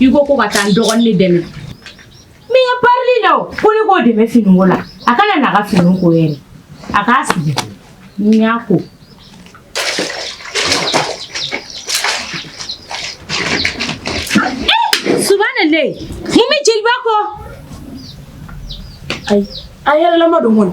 I ko ko ka taa n dɔgɔnin dɛmɛ n bɛ n ka parili la o ko ne k'o dɛmɛ finiko la a kana n'a ka finiw ko yɛrɛ a k'a sigi ni n y'a ko subahanalayi mun bɛ jeliba kɔ ayi a yɛlɛma don kɔnɔ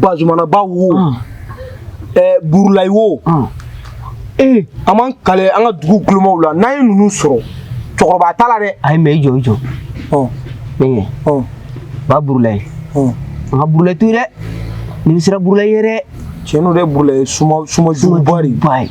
bazumanaba wo ah. eh, burulayi wo ah. eh, an b'an kale an ka dugu kulomaw la n'an ye ninnu sɔrɔ cɛkɔrɔba t'a la dɛ ayi mais i jɔ i jɔ bɛnkɛ ba burulayi an ka burulayi to yen dɛ ne bɛ siran burulayi ye dɛ tiɲɛ don dɛ burulayi suma suma juguba de ba ye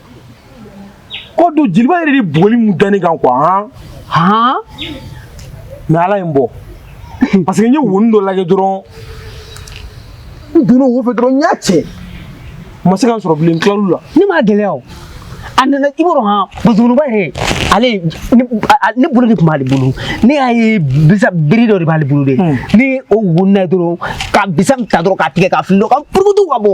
ko don jeliba yɛrɛ de bugɔli mun da ne kan quoi han han mais ala ye n bɔ parce que n ye wonin dɔ lajɛ dɔrɔn n donna wo fɛ dɔrɔn n y'a cɛ u ma se ka n sɔrɔ bilen n tilal'u la ne m'a gɛlɛya o a nana i b'a dɔn han bazumanaba yɛrɛ ale ne a- ne bolo de tun b'ale bolo ne y'a ye bisa biri dɔ de b'ale bolo de ni o wonina ye dɔrɔn ka bisa ta dɔrɔn k'a tigɛ k'a fili dɔ ka purukutu ka bɔ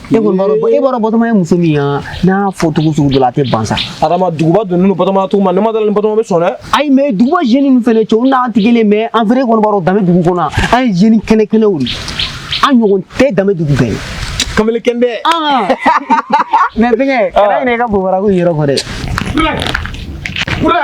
e kɔni b'a dɔn e b'a dɔn batɔma ye muso min ye n'a fɔ cogo sugu dɔ la a tɛ ban sa adama duguba donnen don batɔma cogo ma ne ma da a la ni batɔma bɛ sɔn dɛ ayi mais duguba jeunes ninnu fɛnɛ cɛw n'an tɛ kelen mais en vrai i kɔni b'a dɔn damedugu kɔnɔ an ye jeunes kɛnɛ kɛnɛw de an ɲɔgɔn tɛ damedugu bɛɛ ye kamalen kɛnɛ mais fɛnkɛ kana ɲinɛ i ka bobara ko in yɔrɔ kɔ dɛ Bura! Bura!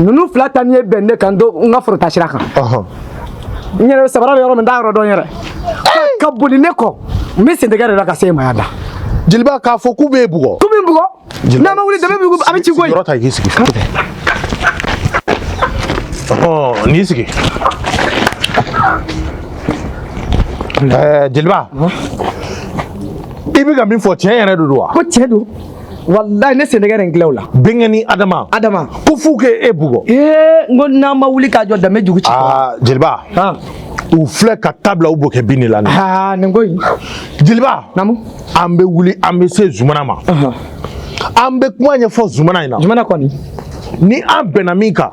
ninnu fila ta ni ye bɛn ne kan do n ka forotaa sira kan n yɛrɛ sabara bɛ yɔrɔ min n t'a yɔrɔ dɔn n yɛrɛ ka boli ne kɔ n bɛ sentɛgɛ de la ka se e ma yan da jeliba k'a fɔ k'u b'e bugɔ k'u bɛ n bugɔ n'an ma wuli damedugu a bɛ ci koyi yɔrɔ ta k'i sigi n'i sigi jeliba i bɛ ka min fɔ tiɲɛ yɛrɛ de don wa ko tiɲɛ don walayi ne sentɛgɛ de ye n tila u la bɛnkɛnin adama adama ko f'u k'e bugɔ ee n ko n'an ma wuli k'an jɔ damedugu ci aa jeliba u filɛ ka tabila u b'o kɛ bin de la aa nin ko in jeliba naamu an bɛ wuli an bɛ se zumana ma an bɛ kuma ɲɛfɔ zumana ɲɛ na zumana kɔni ni an bɛnna min kan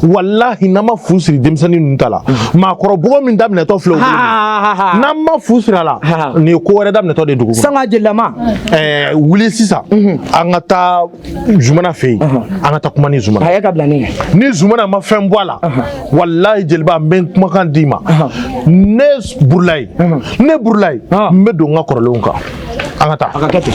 walahi n'an ma fu siri denmisɛnnin ninnu ta la maakɔrɔbugɔ min daminɛtɔ filɛ n'an ma fu siri a la nin ye ko wɛrɛ daminɛtɔ de dugu sanga jelilama ɛɛ wuli sisan an ka taa zumana fɛ yen an ka taa kuma ni zumana a ye ka bila ne ɲɛ ni zumana ma fɛn bɔ a la walahi jeliba n bɛ n kumakan d'i ma ne burulayi ne burulayi n bɛ don n ka kɔrɔlenw kan an ka taa a ka kɛ ten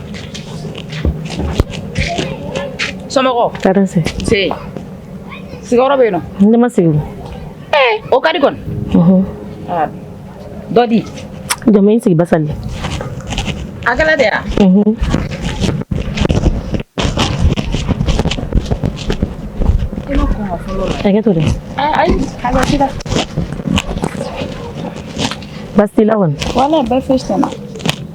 Somɔgɔw tɔɔrɔ se sigiyɔrɔ bɛ yen ne ma sigi o ka di kɔni dɔ di jamu sigi basali a kɛra di yan hakɛ to dɛ basi t'i la wala bɛɛ foyi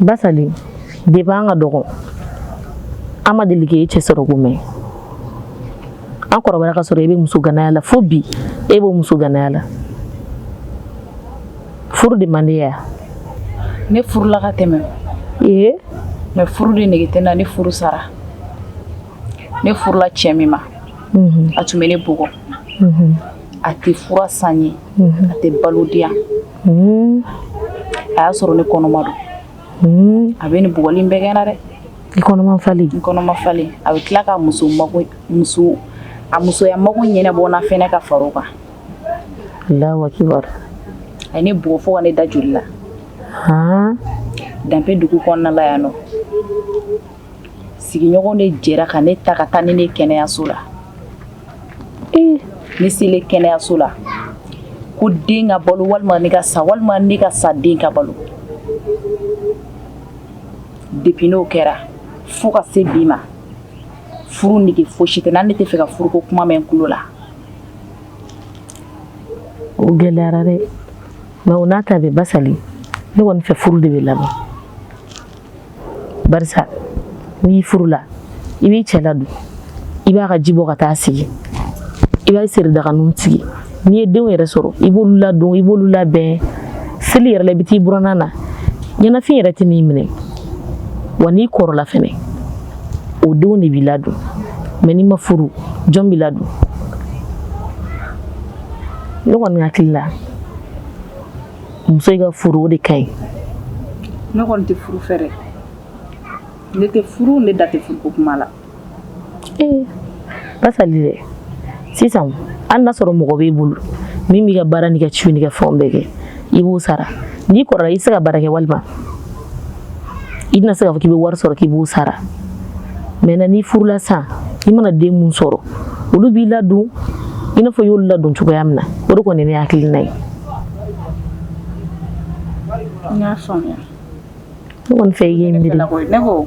basali depuis an ka dɔgɔ an ma deli k'e cɛ sɔrɔ ko mɛn an kɔrɔbayara ka sɔrɔ e bɛ muso ganaya la fo bi e b'o muso ganaya la furu de man di ya ne furula ka tɛmɛ ee mɛ furu de nege tɛ n na ne furu sara ne furula cɛ min ma mhm. a tun bɛ ne bugɔ mhm. a tɛ fura san n ye mhm. a tɛ balo di yan a y'a sɔrɔ ne kɔnɔma don a bɛ nin bugɔli bɛɛ kɛ n na dɛ i kɔnɔma falen n kɔnɔma falen a bɛ tila ka muso muso a musoya mago ɲɛnabɔ n na fɛnɛ ka fara o kan alahu akibar a ye ne bugɔ fo ka ne da joli la danbe dugu kɔnɔna la yan nɔ sigiɲɔgɔn de jɛra ka ne ta ka taa ni ne kɛnɛyaso la ee ne selen kɛnɛyaso la ko den ka balo walima ne ka sa walima ne ka sa den ka balo depuis n'o kɛra fo ka se bi ma furu nege fosi tɛ n na ne t'a fɛ ka furuko kuma mɛn n tulo la o gɛlɛyara dɛ mɛ o n'a ta bɛɛ basali ne kɔni fɛ furu de bɛ laban barisa n'i furula i b'i cɛ ladon i b'a ka ji bɔ ka taa sigi i b'a seri daganinw sigi n'i ye denw yɛrɛ sɔrɔ i b'olu ladon i b'olu labɛn seli yɛrɛ la i bɛ t'i buranna na ɲɛnafin yɛrɛ tɛn'i minɛ wa n'i kɔrɔla fɛnɛ o denw de b'i ladon mɛ n'i ma furu jɔn b'i ladon ne kɔni hakili la muso ka furu o de ka ɲi ne kɔni tɛ furu fɛ dɛ ne tɛ furu ne da tɛ furuko kuma la ee basali dɛ sisan hali n'a sɔrɔ mɔgɔ b'i bolo min b'i ka baara n'i ka ciw n'i ka fɛnw bɛɛ kɛ i b'o sara n'i kɔrɔla i tɛ se ka baara kɛ walima i tɛna se k'a fɔ k'i bɛ wari sɔrɔ k'i b'o sara maintenant n'i furula sisan i mana den min sɔrɔ olu b'i ladon i n'a fɔ i y'olu ladon cogoya min na o de kɔni ne hakilina ye n y'a faamuya ne kɔni fɛ i k'i miiri ne ko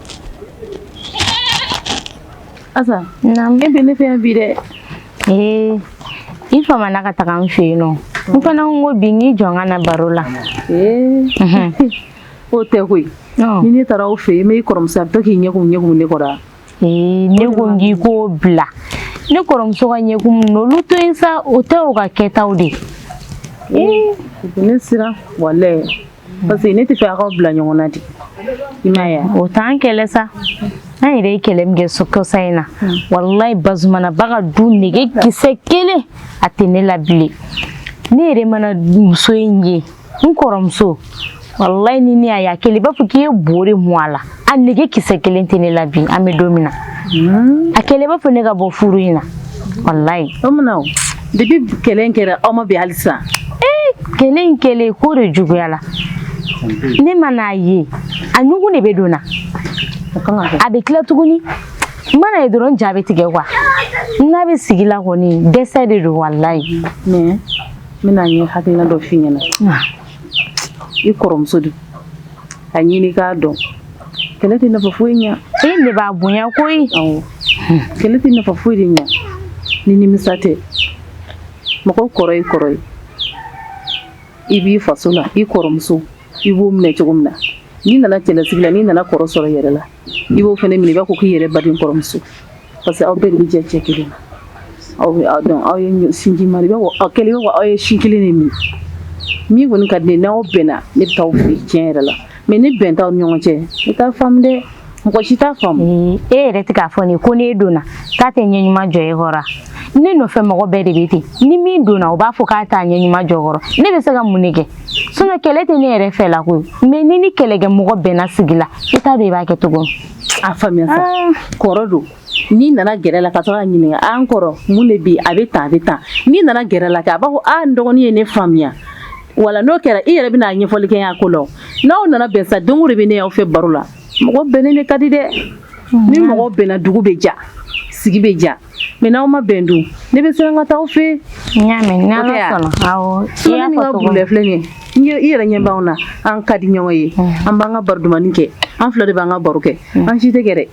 Asa naamu e bɛ ne fɛ yan bi dɛ ee i famana ka taga n fɛ yen nɔ n fana ko bi n k'i jɔ n ka na baro la ee o tɛ koyi ni ne taara aw fɛ yen n bɛ i kɔrɔmuso a bɛ to k'i ɲɛkumu ɲɛkumu ne kɔrɔ ee ne ko n k'i k'o bila ne kɔrɔmuso ka ɲɛkumu n'olu to yen sa o tɛ o ka kɛtaw de ee ne siran walayi parce que ne tɛ fɛ a k'aw bila ɲɔgɔn na de i m'a ye o t'an kɛlɛ sa an yɛrɛ ye kɛlɛ min kɛ so kɔsa in na walayi Bazumana ba ka du nege kisɛ kelen a tɛ ne la bilen ne yɛrɛ mana muso in ye n kɔrɔmuso walayi ni ne y'a ye a kɛlen i b'a fɔ k'i ye bo de mun a la a nege kisɛ kelen tɛ ne la bi an bɛ don min na hmm. a kɛlen i b'a fɔ ne ka bɔ furu in na walayi o munna o depi kɛlɛ in kɛra aw ma bɛn hali sisan ee kɛlɛ in kɛlen ko de juguyala ne man'a ye a ɲugun de bɛ don n na a bɛ tila tuguni n man'a ye dɔrɔn ja bɛ tigɛ kuwa n'a bɛ sigi la kɔni dɛsɛ de don walayi mɛ n bɛna ne hakilina dɔ f'i ɲɛna i kɔrɔmuso don a ɲini k'a dɔn kɛlɛ tɛ nafa foyi ɲɛ e ne b'a bonya koyi kɛlɛ tɛ nafa foyi de ɲɛ ni nimisa tɛ mɔgɔ kɔrɔ y'i kɔrɔ ye i b'i faso la i kɔrɔmuso i b'o minɛ cogo min na n'i nana cɛlasigi la n'i nana kɔrɔ sɔrɔ yɛrɛ la i b'o fana minɛ i b'a fɔ k'i yɛrɛ baden kɔrɔmuso parce que aw bɛɛ de bɛ jɛ cɛ kelen na aw dun aw ye sinji ma i b'a fɔ aw kɛlen i b'a fɔ aw ye sin kelen de min min kɔni ka di n'aw bɛnna ne bɛ taa aw fɛ tiɲɛ yɛrɛ la mɛ ni bɛn t'aw ni ɲɔgɔn cɛ i t'a faamu dɛ mɔgɔ si t'a faamu e yɛrɛ tɛ k'a fɔ nin ko n'e donna k'a tɛ ɲɛ ɲuman jɔ e kɔrɔ ne nɔfɛ mɔgɔ bɛɛ de bɛ ten ni min donna o b'a fɔ k'a t'a ɲɛ ɲuman jɔ kɔrɔ ne bɛ se ka mun de kɛ sinɔn kɛlɛ tɛ ne yɛrɛ fɛla koyi mɛ n'i ni kɛlɛkɛ mɔgɔ bɛnna sigi la i t'a dɔn i b'a kɛ cogo min a faamuya sa ah. kɔrɔ don n'i nana gɛrɛ la ka sɔrɔ k'a ɲininka an ah, kɔrɔ mun de bɛ yen a bɛ tan a bɛ tan n'i nana gɛrɛ la kɛ a b'a fɔ a ah, n dɔgɔnin ye ne faamuya wala n'o kɛra i yɛrɛ bɛna a ɲɛfɔli kɛ a ko la n'aw nana bɛn sa don o de bɛ ne y'aw fɛ baro la mɔgɔ bɛnnen de ka di dɛ ni mɔgɔ bɛnna dugu bɛ diya sigi bɛ diya Mɛ n'aw ma bɛn dun ne bɛ siran ka taa aw fɛ n y'a mɛn i yɛrɛ ɲɛ b'an na an ka di ɲɔgɔn ye an b'an ka baro dumannin kɛ an fila de b'an ka baro kɛ an si tɛ kɛlɛ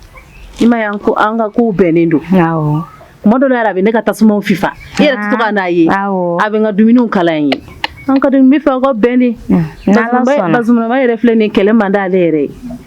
i m'a ye an ka kow bɛnnen don tuma dɔ la yɛrɛ a bɛ ne ka tasuma fifa e yɛrɛ tɛ to ka n'a ye a bɛ n ka dumuniw kala n ye an ka bɛ fɛ aw ka bɛn de Bazumana yɛrɛ filɛ nin ye kɛlɛ man di ale yɛrɛ ye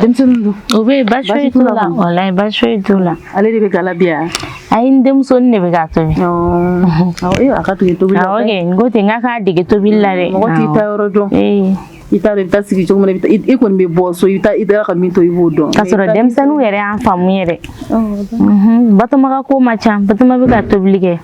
denmisɛnnin don o bɛ yen baasi foyi t'u la walayi baasi foyi t'u la ale de bɛ ga la bi yan ayi n denmusonin de bɛ k'a tobi awɔ a ka dege tobili la awɔ kɛ n ko ten n k'a k'a dege tobili la dɛ mɔgɔ t'i taayɔrɔ dɔn i t'a dɔn i bɛ taa sigi cogo min na i kɔni bɛ bɔ so i bɛ taa i taara ka min to i b'o dɔn k'a sɔrɔ denmisɛnninw yɛrɛ y'an faamu yɛrɛ batoma ka ko man ca batoma bɛ ka tobili kɛ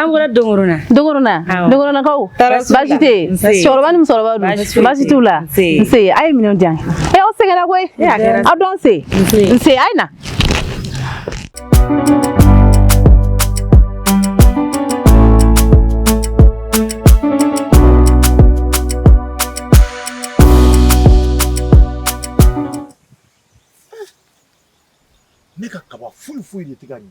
an bɔra dongorona dongorona dongoronakaw baasi tɛ cɛkɔrɔba ni musokɔrɔba dun baasi t'u la nse a ye minɛnw di yan ɛ aw sɛgɛnna koyi aw don nse nse a ye na ne ka kaba foyi foyi de tɛ ka ɲɛ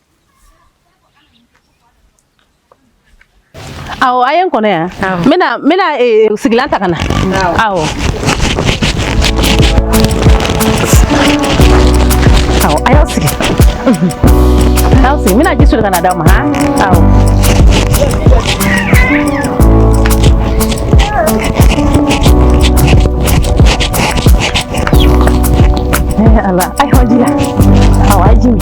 Aw a ye n kɔnɔ yan n bɛna n bɛna eh, sigilan ta ka na awɔ awɔ a y'aw sigi a y'aw sigi n bɛna ji soli ka na d'aw ma han awɔ Eh, ala ayiwa ji la awɔ a ye ji min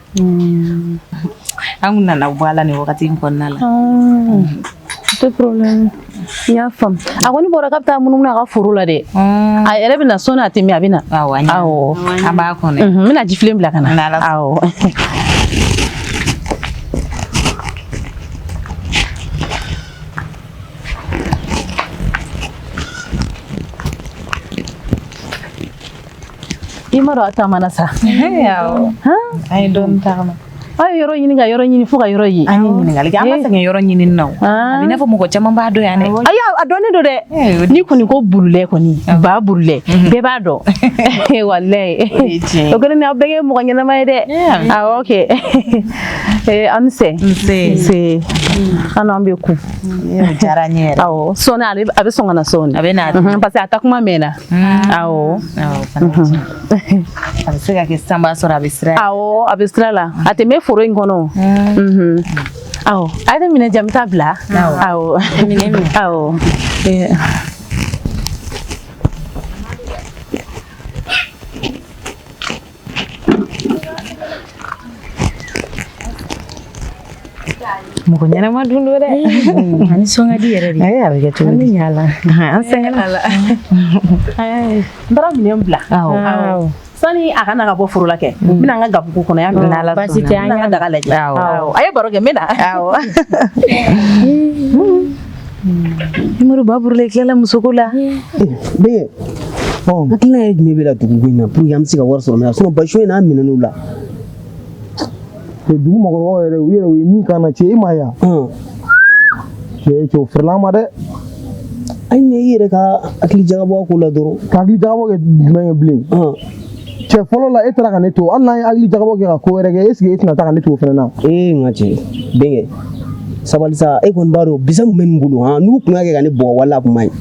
An kun nana bɔ a la nin wagati in kɔnɔna la pas de problème n y'a faamu a kɔni bɔra k'a bɛ taa munumunu a ka foro la dɛ a yɛrɛ bɛ na sɔɔni a tɛ mɛn a bɛ na an b'a kɔnɔ n bɛna jifilen bila ka na i ma dɔn a tagamana sa an ye dɔɔni tagama aw ye yɔrɔ ɲini ka yɔrɔ ɲini fo ka yɔrɔ ye an ye ɲininkali kɛ an ma sɛgɛn yɔrɔ ɲini na a bɛ i n'a fɔ mɔgɔ caman b'a dɔn yan dɛ ayi a dɔnnen don dɛ n'i kɔni ko burulɛ kɔni ba burulɛ bɛɛ b'a dɔn walayi o kɔni a bɛ kɛ mɔgɔ ɲɛnama ye dɛ awɔ kɛ an ni sɛ nse an n'an bɛ ku diyara n ye yɛrɛ awɔ sɔɔni a bɛ sɔn ka na sɔɔni a bɛ na parce que a taa kuma mɛnna a bɛ se ka kɛ sisan b'a sɔrɔ a bɛ sira a bɛ sira la a tɛ mɛn foro in kɔnɔ awɔ a ye minɛn di yan n bɛ taa bila awɔ awɔ mɔgɔ ɲɛnama dun don dɛ a nisɔn ka di yɛrɛ de a bɛ kɛ cogo di yala an sɛgɛnna n taara minɛn bila awɔ sani a ka na ka bɔ foro la kɛ n bɛna n ka gabugu kɔnɔ yan baasi tɛ an ka daga lajɛ a ye baro kɛ n bɛ na awɔ ni mori ba burula i tilala musoko la bɛnkɛ hakilina ye jumɛn b'e la dugu ko in na pour que an bɛ se ka wari sɔrɔ mais sinon bason in n'a minɛn'u la dugu mɔgɔkɔrɔbaw yɛrɛ u yɛrɛ u ye min k'an na cɛ e ma yan cɛ cɛ o fɛrɛla ma dɛ ayi mais i yɛrɛ ka hakili jagabɔ a ko la dɔrɔn ka hakili jagabɔ kɛ jumɛn ye bilen cɛ fɔlɔ la e taara ka ne to hali n'an ye hakili jagabɔ kɛ ka ko wɛrɛ kɛ est-ce que e tɛna taa ka ne to o fana na ee n ka cɛ bɛnkɛ sabali sa e kɔni b'a dɔn bisa min bɛ nin bolo han n'u tun y'a kɛ ka ne bugɔ walayi a kun man ɲi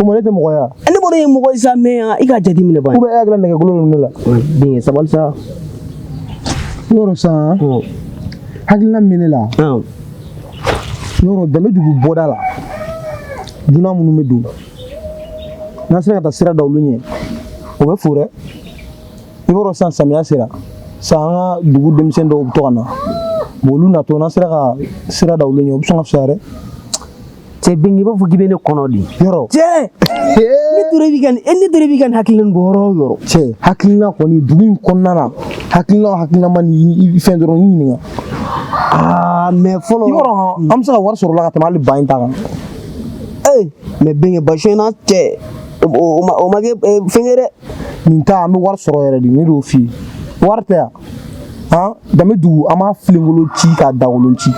o ma ne tɛ mɔgɔ ye wa ne b'a dɔn e ye mɔgɔ ye sa mais yan i ka jate minɛ ban ou bien e hakili la nɛgɛkolo ninnu ne la bɛnkɛ sabali sa yɔrɔ sa hakilina min bɛ ne la yɔrɔ danbe dugu bɔda la dunan minnu bɛ don n'an sera ka taa sira da olu ɲɛ o bɛ fo dɛ i b'a dɔn sisan samiya sera sisan an ka dugu denmisɛnnin dɔw bɛ to ka na olu natɔ n'an sera ka sira da olu ɲɛ o bɛ sɔn ka fisaya dɛ cɛ bɛnkɛ i b'a fɔ k'i bɛ ne kɔnɔ de yɔrɔ cɛ ne tora i b'i ka ne tora i b'i ka nin hakilina nin bɔ yɔrɔ o yɔrɔ cɛ hakilina kɔni dugu in kɔnɔna na hakilina o hakilina ma ni fɛn dɔrɔn n ɲininka aa mais fɔlɔ yɔrɔ an bɛ se ka wari sɔrɔ o la ka tɛmɛ hali ba in ta kan ee mais bɛnkɛ bason na cɛ o ma kɛ fɛnkɛ dɛ nin ta an bɛ wari sɔrɔ yɛrɛ de ne y'o f'i ye wari tɛ yan han danbe dugu an b'a filenkolo ci k'a dagolo ci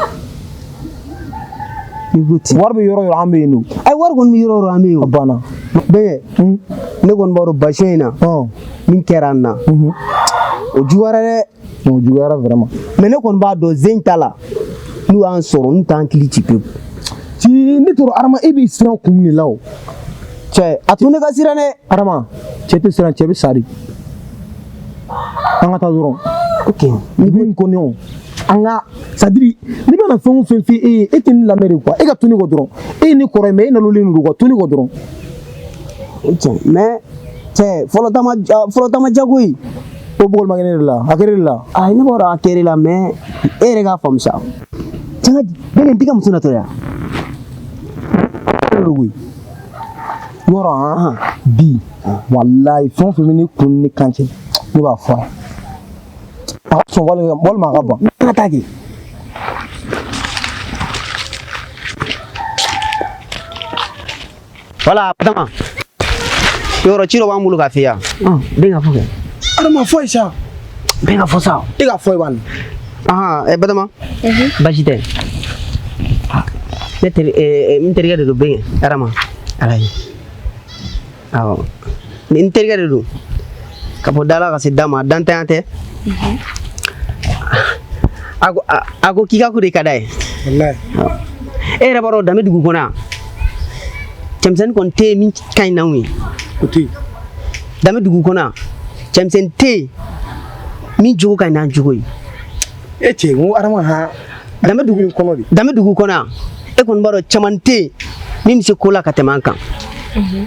wari bɛ yɔrɔ yɔrɔ an bɛ yen nɔ ayi wari kɔni bɛ yɔrɔ yɔrɔ an bɛ yen o banna bɛnkɛ ne kɔni b'a dɔn bason in na min kɛra an na o juguyara dɛ O juguyara vraiment. Mais ne kɔni b'a dɔn sen in ta la n'u y'an sɔrɔ n'u t'an kili ci pewu. Cɛ ne tɔrɔ Adama e bɛ siran kun de la o. Cɛ a to ne ka siran dɛ. Adama cɛ tɛ siran cɛ bɛ sa de. An ka taa dɔrɔn. Ok. Ni bɛ n kɔni o. an ka c'est-à-dire ne bɛna fɛn o fɛn f'i ye e ye e tɛ ne lamɛn de quoi e ka to ne kɔ dɔrɔn e ye ne kɔrɔ ye mais e nalolen don quoi to ne kɔ dɔrɔn o tiɲɛ mais cɛ fɔlɔ tama fɔlɔ tama jago in ko bugɔli ma kɛ ne de la a kɛra de la a ne b'a dɔn a kɛr'e la mais e yɛrɛ k'a faamu sa cɛn ka bɛɛ nin tɛ ka muso natɔ yan yɔrɔ han bi walayi fɛn o fɛn bɛ ne kun ni ne kan cɛ ne b'a fɔ a a ka sɔn walima walima a ka ban ne ka taa kɛ voilà batama yɔrɔ ci dɔ b'an bolo k'a f'i ye yan bɛnkɛ a fɔ kɛ adama a f'a ye sa bɛnkɛ a fɔ sa e k'a f'a ye bani ahan ɛ batama baasi tɛ ne teri eh, n terikɛ de don bɛnkɛ adama ala ye awɔ n terikɛ de don Ka bɔ da la ka se da ma dantanya tɛ mhm. a ko k'i ka ko de ka d'a ye e yɛrɛ b'a dɔn danbe dugu kɔnɔ yan cɛmisɛnnin kɔni tɛ yen min ka ɲi n'anw ye danbe dugu kɔnɔ yan cɛmisɛnnin tɛ yen min jogo ka ɲi n'an jogo ye e cɛ n ko adama ha danbe dugu kɔnɔ de danbe dugu kɔnɔ yan e kɔni b'a dɔn caman tɛ yen min bɛ se ko la ka tɛmɛ an kan mhm.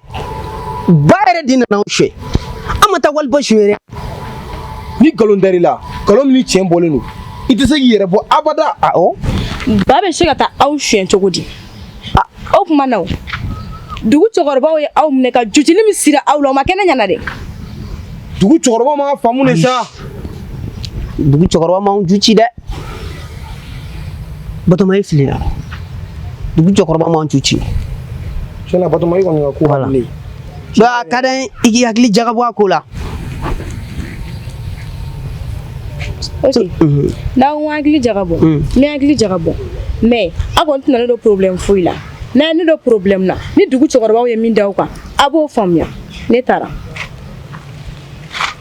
ba yɛrɛ de nana anw suɲɛ an ma taa wali ba suɲɛ dɛ ni nkalon dar'i la nkalon min ni tiɲɛ bɔlen don i tɛ se k'i yɛrɛ bɔ abada awɔ ba bɛ se ka taa aw suɲɛ cogo di A, o tuma na o dugu cɛkɔrɔbaw ye aw minɛ ka jucili min sira aw la o ma kɛ ne ɲɛna dɛ dugu cɛkɔrɔba ma faamu de sa dugu cɛkɔrɔba m'anw ju ci dɛ batoma e filila dugu cɛkɔrɔba m'anw ju ci Tiɲɛ na batoma i kɔni ka ko voilà. bilen donc a ka d'an ye i k'i hakili jagabɔ a ko la ok mhm. n'aw ko hakili jagabɔ mm. n bɛ hakili jagabɔ mais a kɔni tɛna ne don problème foyi la n'a ye ne don problème na ni dugu cɛkɔrɔbaw ye min da aw kan a b'o faamuya ne taara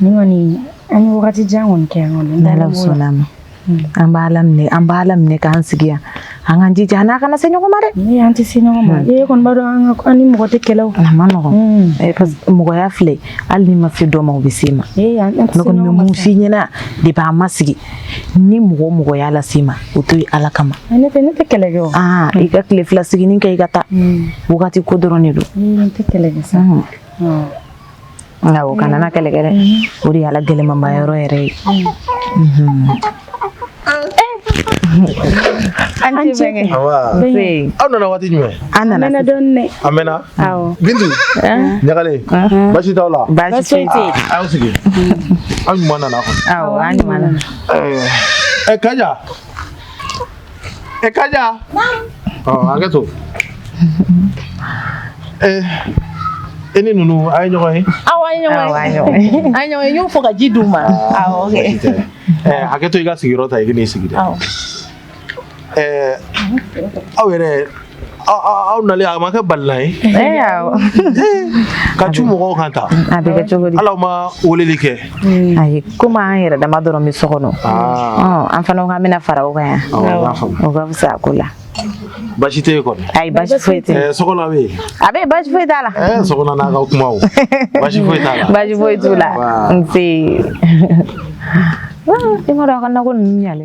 kɔni an ye wagati jan kɔni kɛ kɔni n'ala sɔnna a ma an b'a laminɛ an b'a laminɛ k'an sigi yan an k'an jija an kana se ɲɔgɔn ma dɛ ni an tɛ se ɲɔgɔn ma e kɔni b'a dɔn an ni mɔgɔ tɛ kɛlɛ a man nɔgɔn parce que mɔgɔya filɛ hali n'i ma se dɔ ma o bɛ se i ma ne kɔni bɛ mun f'i ɲɛna depuis an ma sigi ni mɔgɔ o mɔgɔ y'a lase i ma o to ye ala kama ne tɛ ne tɛ kɛlɛ kɛ aa i ka tile fila siginin kɛ i ka taa wagati ko dɔrɔn de don ne tɛ kɛlɛ kɛ sa awɔ kana na kɛlɛ kɛ dɛ o de y'a la gɛlɛmanba yɔrɔ yɛrɛ ye a ni ce bɛnkɛ aw nana waati jumɛn an nana dɔɔnin dɛ a mɛnna bintu ɲagalen basi t'aw la basi tɛ aw sigi aw ɲuman nana kɔni awɔ an ɲuman nana ɛ kaja ɛ kaja ɔ hakɛ to ɛ e ni ninnu a ye ɲɔgɔn ye awɔ an ye ɲɔgɔn ye an ye ɲɔgɔn ye n y'o fɔ ka ji d'u ma awɔ hakɛ to i ka sigiyɔrɔ ta i ka n'i sigi dɛ Ɛɛ aw yɛrɛ aw nali a ma kɛ balila ye ka cun mɔgɔw kan tan hali aw ma weleli kɛ ayi komi an yɛrɛ dama dɔrɔn bɛ so kɔnɔ an fana ko k'an bɛna fara o kan yan o ka fisa ko la basi tɛ kɔni ayi basi foyi tɛ so bɛ yen a bɛ basi foyi t'a la so n'a ka kuma basi foyi t'a la basi foyi t'u la nse i ma dɔn a ka nako ninnu ɲalen